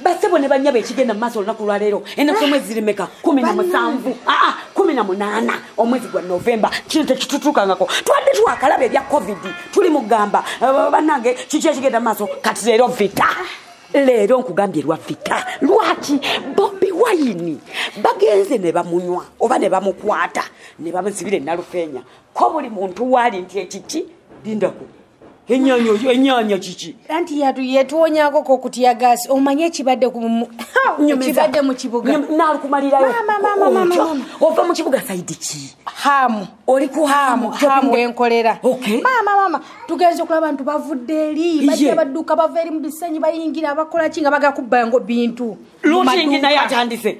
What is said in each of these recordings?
basebo ne banyabo ekigenda mumaaso olunaku lwaleero enaku omwezi zirimeka kumi na musanvu aa ah, ah, kumi na munaana omwezi gwa novemba kino tekitutuukangako twabadde twakalaba ebya covid tuli mugamba eh, banange kiki ekigenda mumaaso kati leero vita leero nkugambye lwa vita lwaki bobi wayini bagenze ne bamunywa oba ne bamukwata ne bamusibira enalufeenya ko buli muntu waali nti ekiki lindako enyanya oyo enyanya kiki anti yatu yetuwonyako ko kutya gas omanye kibadde ku kibadde mu kibuga na kumalira yo mama mama mama ova mu kibuga saidi ki hamu oli ku hamu hamu enkolera okay mama mama tugenze kula abantu bavudde eri bajja baduka baveri mu bisenyi bayingira abakola kinga baga kubba ngo bintu looting na yatandise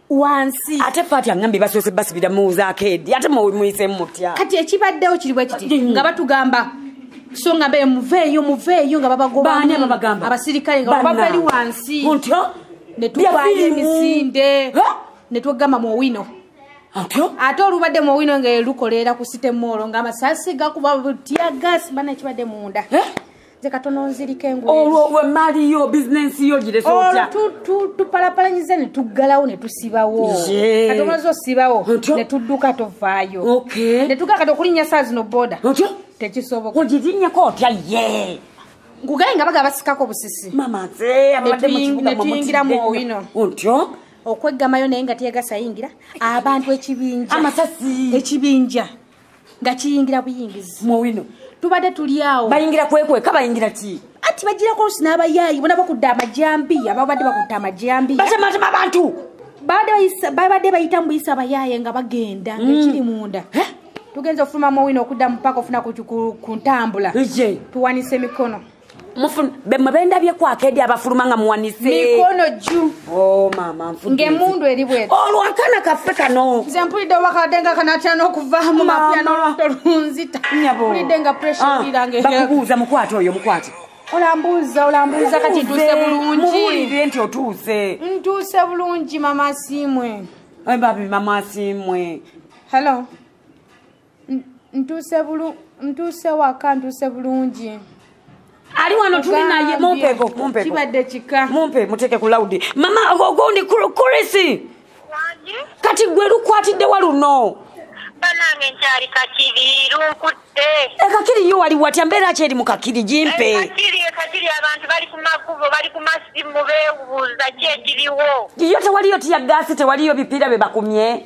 wansi ate fati angambye basoose basibira muwuzaako edi ate muyisemu mutya kati ekibaddewo kiri bwe kiti mm. nga batugamba so nga be muveeyo muveeyo nga babagobaani ababagamba abasirikale nga babavali wansi ntyo ne tukwanya emisinde ne tugamba mu owino atyo ate olubadde mu owino nga lukoleera ku site moolo nga amasasi gakuba butya gasi bana ekibadde munda eh? olwo maali yo bizinensi yo girestupalapalanyiza netuggalawo netusibawo kati omaze osibawo netudduka tovaayo netugaa kati okulinnya saa zino boda tekisoboka ogirinyeko otya ye ngugaye nga baga basikako busisi netuyingira mu owino otyo okweggamayo naye nga teyagasa yingira abantu ekibinja amasasi ekibinja nga kiyingira buyingizi muwino tubadde tuli awo bayingira kwekweka bayingira ki ati bagirako nsi n'abayaayi bona bakudde amajambi ababadde bakudde amajambi batematema abantu babadde bayita mu buyisa abayaaye nga bagenda mm. ekiri munda tugenza okufuluma muwino okudda mu paaka ofuna ku ntambula tuwanisa emikono mwebendabyeko akedi abafuluma nga muwanismikono ju oh, ngaemundu eri bwe olwakana oh, kaffe kano nze mpulidde obakadde nga kanatya n'okuvaamu mapya n'oluto lunzita mpulidde nga pressurebakubuuza ah, mukwate oyo mukwate olambuuza olambuuza kati ntuuse bulungi nti otuuse ntuuse bulungi mama simwe babi mama simwe hello ntuuse waka ntuuse bulungi ali wano tuli naye mumpeko mumpekokibadde kika mumpe muteeke ku laudi mama ogundi kurisi kati gwe lukwatiddewa luno banange nkyali kakiri lunkutte ekakiri eh, yo wali watya mbeera ki eri mu kakiri gimpe eh, kakiri eh, abantu bali ku makubo bali ku masimu bewuuza ki ekiriwo yo tewaliyo tiyagaasi tewaliyo bipiira bye bakumye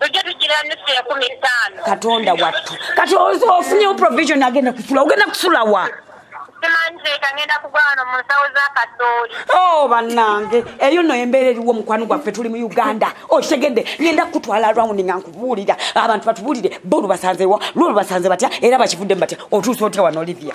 tujja tugira nusu enkumi ttaano katonda wattu kati ofunyewo provision agenda kusula ogenda kusula wa oh, banange eyo no embeera eriwo mukwano gwaffe tuli mu uganda okitegedde oh, ngenda kukutwala rawundi nga nkubuulira abantu batubuulire bo lubasanzewo lwo lubasanze batya era bakivuddemu batya otuusa otya wano olivia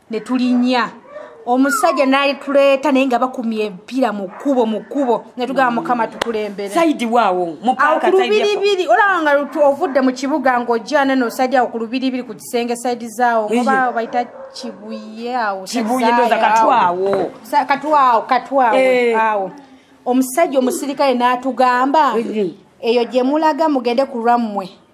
ne tulinya omusajja nalituleeta naye nga bakumye empira mu kkubo mu kkubo ne tugamba mukama tukulemberekulubiribiri olaba nga ovudde mu kibuga ng'ojjana no osajja awo ku lubiribiri ku kisenge saidi zaawo oba bayita kibuye awo katwawo katwawo eh. awo omusajja omusirikale n'atugamba eyo gye mulaga mugende ku lwammwe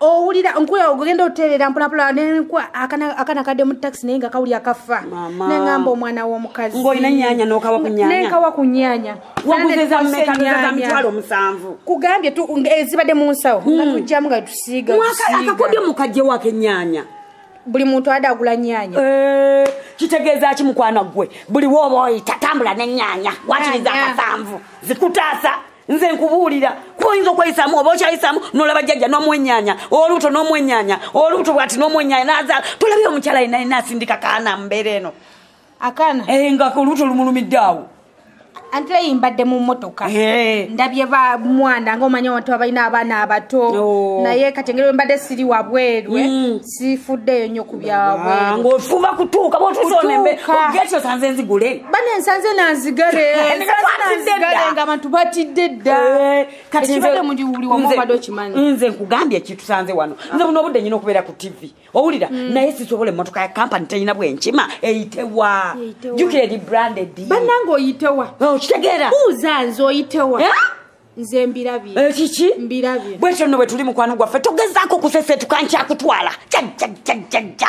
owulira nkuya ogenda oterera mpulapula akana kadde mu taxi naye nga kawulira kafa nengamba omwana w'omukazi ngolina nyanya nokawa ku nyanya nenkawa ku nyanya waguzeza mmeka nzeza mitwalo omusanvu kugambye tu ezibadde mu nsawo hmm. nga tujjamu nga tusiiga akakodyo mukajje wako enyanya buli muntu ade agula nyanya eh, kitegeeza ki mukwana ggwe buli wooba oyita tambula ne nyanya wakiriza akasanvu zikutaasa nze nkubuulira kuba oyinza okweyisamu oba okyayisamu nolaba jjajja nomwenyanya olubuto nomwenyanya olubuto bwati nomwenyanya nazaala tolabye omukyala yena yena asindika kaana mumbeera eno akaana eh, nga olubuto lumulumidde awo anti eyi mbadde mu motoka eh. ndabye ba mwana ngaomanya abantu abalina abaana abato oh. naye kati engeri wembadde siri wabweru eh. mm. sifuddeyo nnyo ku byabwengaofuba kutuuka bwotuzonembeogeekyo sanze nzigule bane nsanze nanzigale nga abantu batidde dda eh, katibadde muli wuli wamubadde okimanyi nze nkugambye ekitusanze wano nze buno obudde nyina okubeera ku tv owulira mm. naye sisobola emotoka ya kampani teyina bwenkima eyitewa jukira eri branded banange oyitewa okitegeera oh, buuza nze oyitewa eh? nze mbirabye ekiki eh, mbirabye bwekyo nno bwe tuli mukwano gwaffe togezaako kuseseetuka nkyakutwala jajjajjajjajja